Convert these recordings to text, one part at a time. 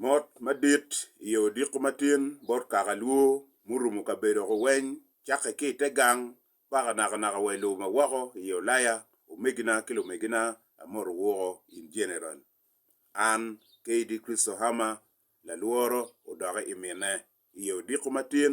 Mot madit i yo odiko matin bot kaka lwo murumo kabedo ko weny cakke ki i te gang paka naka naka wa i lobo ma woko i ye olaya, omegina ki lumegina amoto wuko in general. An KD Christo Hammer lalworo odoke i mine i ye odiko matin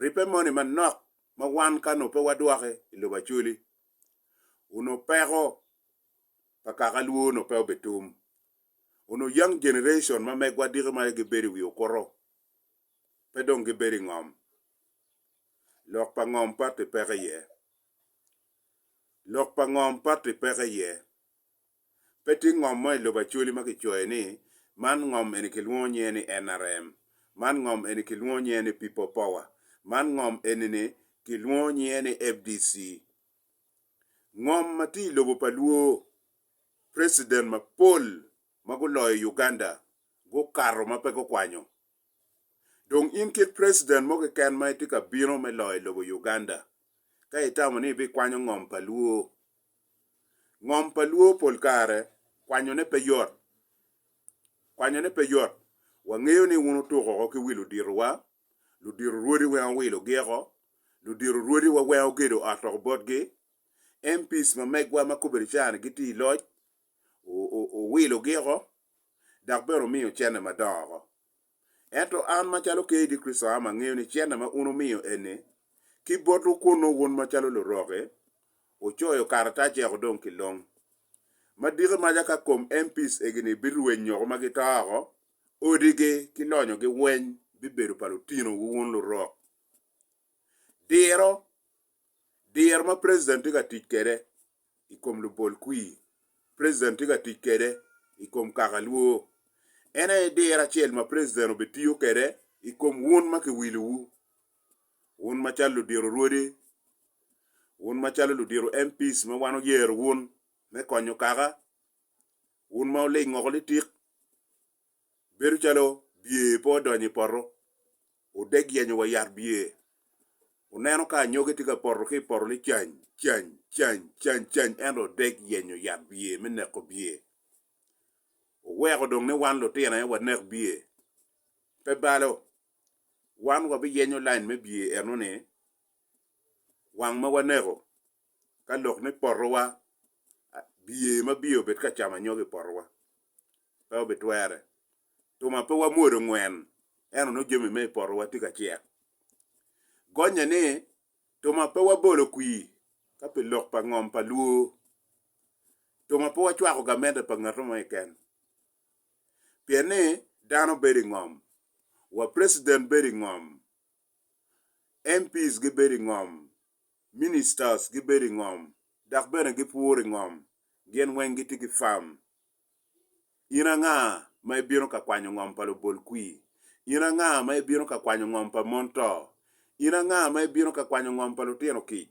ribbe moni manok ma wan ka nongo pe wadwoke i lobo acoli, onongo peko pa kaka lwo onongo pe obitum. Onongo young generation ma megwa diki ma gibedo i wi okuto pe dong gibedo i ngom. Lok pa ngom patti peko iye. Lok pa ngom patti peko iye. Pe tye ngom mo i lobo Acholi ma kicoyo ni, Man ngom eni kilwongo nyinge ni NRM, man ngom eni kilwongo nyinge ni People Power, man ngom enini kilwongo nyinge ni FDC. Ngom ma tye i lobo pa Luo, president mapol ma guloyo Uganda gukato ma pe gukwanyo. Dong in kit president mo keken ma itye ka bino me loyo lobo Uganda ka itamo ni ibikwanyo ngom pa Luo. Ngom pa Luo pol kare kwanyone pe yot. Kwanyone pe yot. Wangeyo ni wun wutuk oko ki wi luditowa, ludito rwodi weng owilogi oko, ludito rwodiwa weng ogedo ot oko botgi, MPs ma megwa ma kobedi ca-ni gitye i loc, owilogi oko, dok bene omiyo cente madongo oko. Ento an macalo Ker i Kricito am angeyo ni cente ma un wumiyo eni, ki botwu kunnu wun macalo luroki, wucoyo karatac eko dong kilong. Ma diki maca ka kom MPs egini birwenyo oko ma gito oko, odigi ki lonyogi weny bibedo pa lutinowu wun lurok. Diro, diro ma President tye ka tic kwede i kom lubol kwir preciden tye ka tic kwede i kom kaka lwor. En aye diro acel ma preciden obitiyo kwede i kom wun ma kiwilowu, wun macalo ludiro rwodi, wun macalo ludiro MPs ma wan oyero wun me konyo kaka, wun ma wulingo oko litik, bedo calo bye pe odonyo i poto, odeg yenyo wa yat bye, oneno ka anyogi tye ka poto ki i poto ni cany cany cany cany cany ento odeg yenyo yat bye me neko bye. Oweko dong ni wan lutino aye wanek bye, pe balo, wan wabiyenyo lain me bye enoni wang ma waneko ka lok ni potowa bye ma bye obed ka camo anyogi i potowa. pe obitwere. Tuma pe wamwodo ngwen ento nongo jami me i potowa tye ka cek. Gonnye ni tuma pe wabolo kwir ka pi lok pa ngom pa lwo. Tuma pe wacwako gamente pa ngat mo keken. Pien ni dano bedo i ngom, wa president bedo i ngom, MPs gibedo i ngom, ministers gibedo i ngom, dok bene gipuro i ngom. Gin weng gitye ki farm. In anga ma ibino ka kwanyo ngom pa lubolkwir? In anga ma ibino ka kwanyo ngom pa mon to? In anga ma ibino ka kwanyo ngom pa lutino kic?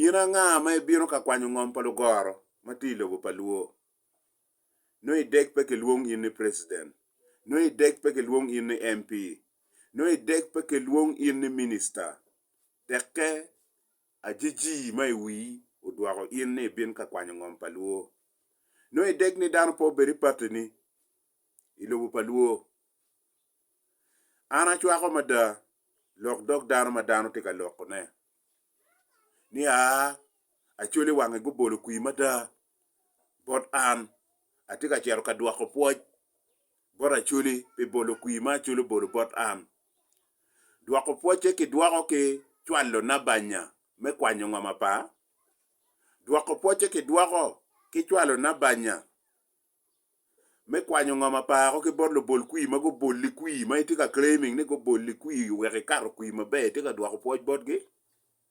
In anga ma ibino ka kwanyo ngom pa lugoro ma tye i lobo pa lwo? Nongo i dek pe kilwong in ni president, nongo i dek pe kilwong in ni MP, nongo i dek pe kilwong in ni minister, tekke Ajijii ma i wii odwoko in ni ibin ka kwanyo ngom pa Luo. Nongo i deg ni dano pe obed i party ni i lobo pa Luo. An acwako mada lok dog dano ma dano tye ka loko ne ni aa Acholi wange gubolo kwii mada bot an, atye ka cito ka dwoko pwoc bot Acoli pi bolo kwir ma Acoli obolo bot an. Dwoko pwocce kidwoko ki cwalo nabanya me kwanyo ngom apa? Dwoko pwocce kidwoko ki cwalo nabanya me kwanyo ngom apa ko ki bot lubol kwir ma guboli kwir ma itye ka claiming ni guboli kwir wek ikato kwir maber, itye ka dwoko pwoc botgi?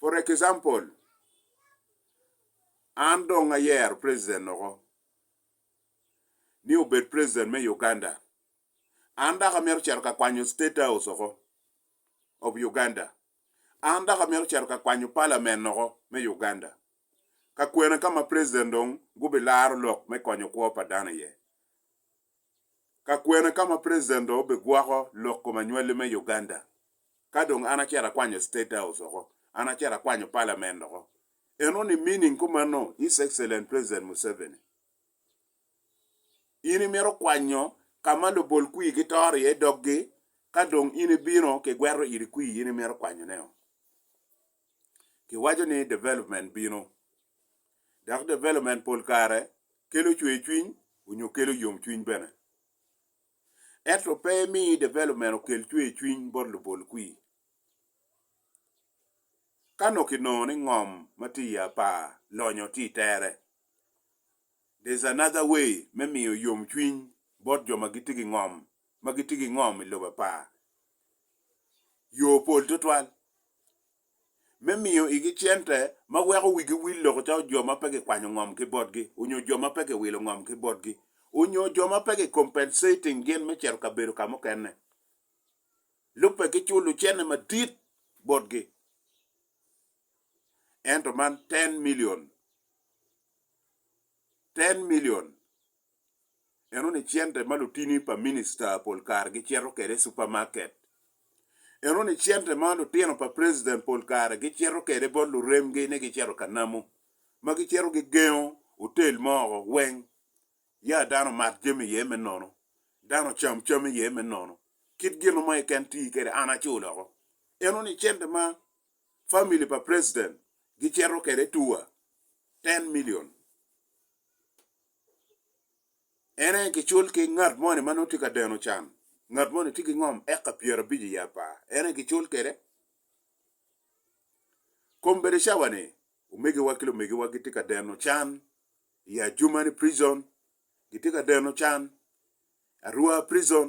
For example, an dong ayero president oko ni obed president me Uganda, an dok amito cito ka kwanyo state house oko of Uganda, an dok amito cito ka kwanyo parliament oko me Uganda. ka kwena ka ma preciden dong gubilaro lok me konyo kwo pa dano iye, ka kwena ka ma preciden dong obigwoko lok kom anywali me Uganda, ka dong an acito akwanyo state house oko, an acito akwanyo palament oko, eno ni meaning kumeno his excellent preciden Museveni, in imito kwanyo ka ma lubol kwir gitoro iye doggi, ka dong in ibino kigweto iri kwir in imito kwanyone-o. Kiwaco ni development bino, dok development pol kare kelo cwercwiny onyo kelo yomcwiny bene. Ento pe imi development okel cwercwiny bot lubol kwir. Ka nongo kinongo ni ngom ma tye i apar lonyo tye i tere, there's another way me miyo yomcwiny bot jo ma gitye ki ngom ma gitye ki ngom i lobo pa yo pol tutwal me miyo igi cente ma weko wigi wil loko calo jo ma pe kikwanyo ngom ki botgi onyo jo ma pe kiwilo ngom ki botgi onyo jo ma pe ki compensating gin me cito ka bedo ka mukene lubbe ki culo cene madit botgi ento man ten million ten million Enoni cente ma lutini pa minista pol kare gicito kwede i supamaket. Enoni cente ma lutino pa preciden pol kare gicito kwede bot luremgi ni gicito ka namo, ma gicito gigengo otel mo woko weng ya dano omat jami iye me nono, dano ocam cam iye me nono, kit gino mo keken ti kwede an acul woko. Enoni cente ma famili pa preciden gicito kwede tua ten milion. En aye gicul ki ngat moni ma nongo tye ka deno can, ngat moni tye ki ngom eka pyera abic i apar, en aye gicul kwede. Kom bedo cawa ni omegiwa ki lumegiwa gitye ka deno can i Adjumani prison, gitye ka deno can Arua prison.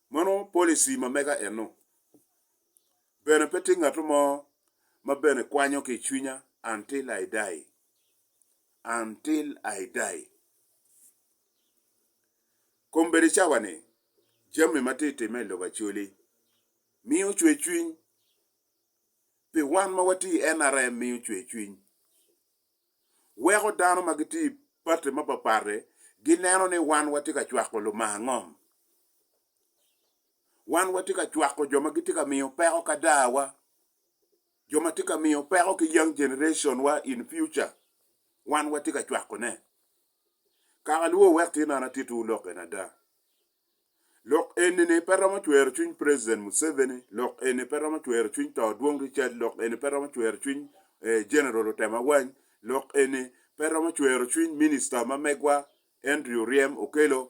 Meno policy ma mega eno. Bene pe tye ngatu mo ma bene kwanyo ki i cwinya until I die. Until I die. Kombeddi cawa ni jami ma tye time i lobo Acholi miyo cwer cwiny. Pi wan ma watye i NRM miyo cwer cwiny. weko dano ma gitye i pati mapatpat-ti gineno ni wan watye ka cwako lumar ngom. Wan watye ka cwako jo ma gitye ka miyo peko kadawa, jo ma tye ka miyo peko ki young generationwa in future, wan watye ka cwakone. Kaka luwo wek tye nongo atittiwu lok eni ada. Lok enini pe romo cwero cwiny President Museveni, lok eni pe romo cwero cwiny to Dwong Richard, lok eni pe romo cwero cwiny General Otem Awany, lok eni pe romo cwero cwiny Minister ma megwa Andrew Oryem Okello,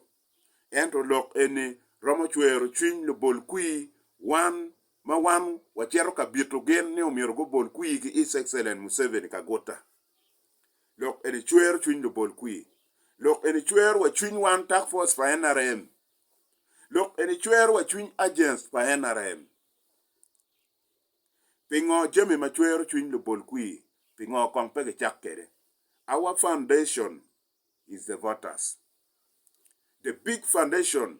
ento lok eni romo cwero cwiny lubol kwir wan ma wan wacito ka bito gin ni omyero gubol kwir ki His Excellent Museveni Kaguta. Lok eni cwero cwiny lubol kwir. Lok eni cwero wa cwiny wan task force pa nrm. Lok eni cwero wa cwiny agents pa nrm. Pingo jami ma cwero cwiny lubol kwir pingo kong pe gicak kede? Our foundation is the voters. The big foundation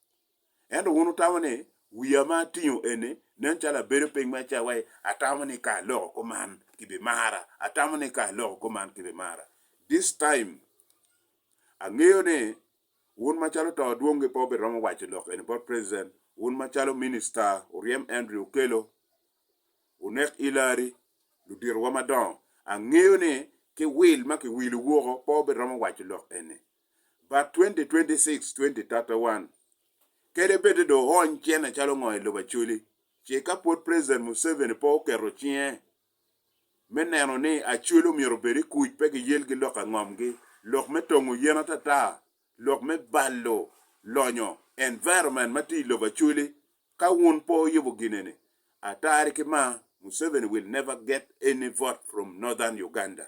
Ento wun wutamo ni, 'Wiya ma atingo eni nen calo abedo piny ma cawae, atamo ni ka aloko kuman kibimara, atamo ni ka aloko kuman kibimara. This time, angeyo ni wun macalo to dwongi pe wubiromo waco lok eni bot President, wun macalo Minister wuryem Andrew Okello, wunek Hillary, ludito wa madongo, angeyo ni ki wil ma kiwilo woko pe wubiromo waco lok eni. but 2026, 2031 kede bede do oony cene calo ngo i lobo Acholi ce ka pwod President Museveni pe oketo cinge me neno ni Acholi omyero obed i kuc pe gi yel gi lok angom gi lok me tongo yen atata, lok me balo lonyo environment ma tye i lobo Acholi ka wun pe oyubo gine ni atari ki ma Museveni will never get any vote from Northern Uganda.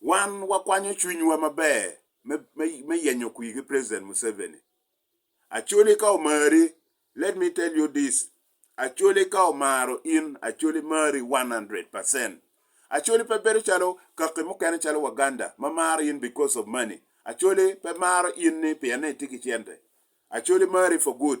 wan wakwanyo cwinywa maber me yenyo kwir ki President Museveni. Acholi ka omari, let me tell you this, Acholi ka omaro in, Acholi mari one hundred percent. Acholi pe bedo calo kaki mukene calo Waganda ma maro in because of money. Acholi pe maro in ni pien ni itye ki cente. Acholi mari for good.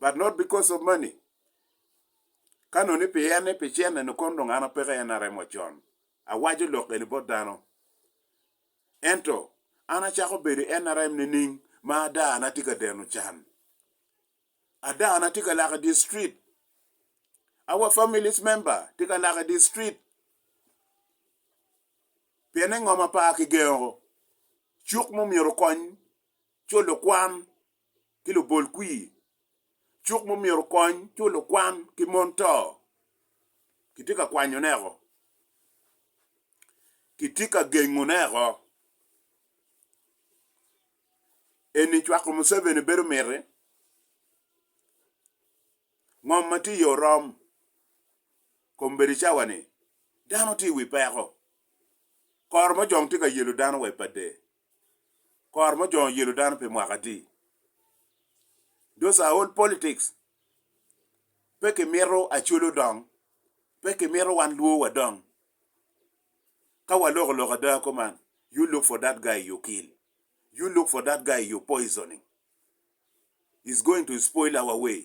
but not because of money ka nongo ni pi en ni pi cente ni kono dong an aye peke en aremo con awaco lok eni bot dano ento an acako bedo en arem nining ma ada na tye ka deno can ada na tye ka lak idye street our families member tye ka lak idye street pienne ngo ma par kigengo cuk ma omyero okony co lukwan ki lubol kwir, cuk mumyero okony cul lukwan ki mon to kitye ka kwanyo ne o, kitye ka gengo ne o, eni cwako Museveni bedo miti? Ngom ma tye iye orom, kombeddi cawa ni dano tye iwi peko, kor mojong tye ka yelo dano wa ipadde. kor mujongo yelo dano pi mwaka adi. Those are all politics. Pe kimito Acholi odong, pe kimito wan Luo wadong. Ka waloko lok ada kuman, you look for that guy you kill, you look for that guy you poisoning. He's going to spoil our way.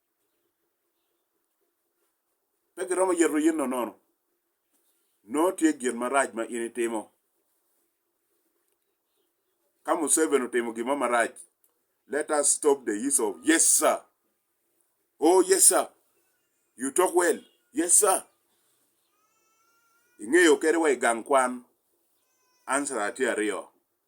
Pe giromo yeto in nono. Nongo tye gin marac ma in itimo. Ka Museveni otimo gin mo marac, let us stop the use of yes sir, oh yes sir, you talk well, yes sir. Ingeyo kadi wa i gang kwan, answer-ra tye aryo.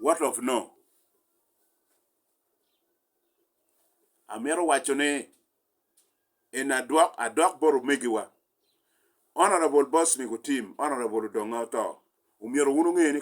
what of no? Amito waco ni en adwok adok bot omegiwa Honorable Bosnick Otim, Honorable Odonga oto, omyero wun onge ni